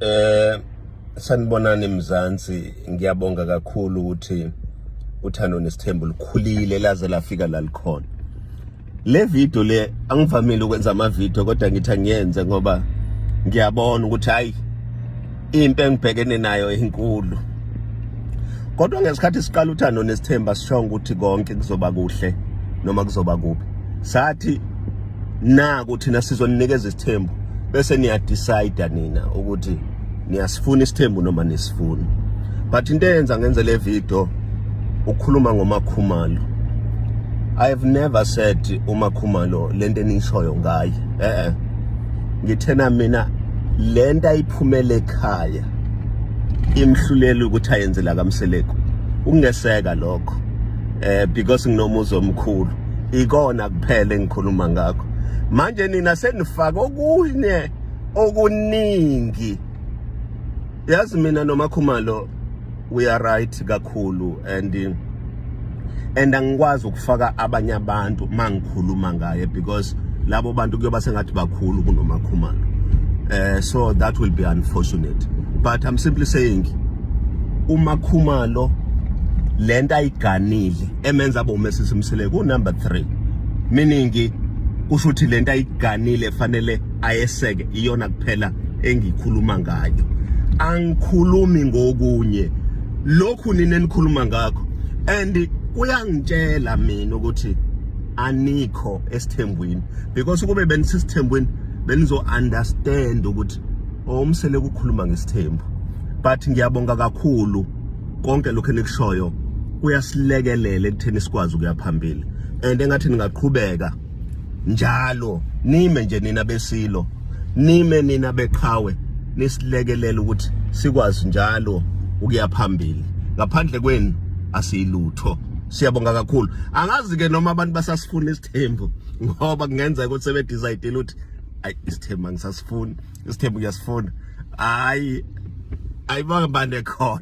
Eh sanibonani mzansi ngiyabonga kakhulu ukuthi uthando nesithembu likhulile laze lafika la likhona le video le angivamile ukwenza ama video kodwa ngithi angiyenze ngoba ngiyabona ukuthi hayi impi engibhekene nayo inkulu kodwa ngesikhathi siqala uthando nesithemba sishonga ukuthi konke kuzoba kuhle noma kuzoba kubi sathi naku thina sizoninikeza isithembu bese niya decide nina ukuthi niyasifuna isithembu noma nisifuni but into eyenza ngenze le video ukukhuluma ngomakhumalo i have never said umakhumalo lento enishoyo ngaye eh eh ngithena mina lento ayiphumele ekhaya imhluleli ukuthi ayenzela kamseleku ukungeseka lokho eh because nginomuzi omkhulu ikona kuphela engikhuluma ngakho manje nina senifaka okunye okuningi yazi mina nomakhumalo we are right kakhulu and and angikwazi ukufaka abanye abantu mangikhuluma ngaye because labo bantu kuyoba sengathi bakhulu kunomakhumalo eh so that will be unfortunate but i'm simply saying umakhumalo lento ayiganile emenza abe umesisi mseleku number 3 meaning kusho ukuthi lento ayiganile fanele ayeseke iyona kuphela engikhuluma ngayo angikhulumi ngokunye lokhu nini enikhuluma ngakho and kuyangitshela mina ukuthi anikho esithembweni because ukube benisisithembweni benizo understand ukuthi omsele kukhuluma ngesithembu but ngiyabonga kakhulu konke lokho enikushoyo kuyasilekelela ekutheni sikwazi ukuya phambili and engathi ningaqhubeka njalo nime nje nina besilo nime nina beqhawe nisilekelela ukuthi sikwazi njalo ukuya phambili ngaphandle kwenu asiyilutho siyabonga kakhulu angazi ke noma abantu basasifuna isithembu ngoba kungenzeka ukuthi sebedecide ukuthi ayi isithembu angisasifuni isithembu kuyasifuna hayi ayibanga bande khona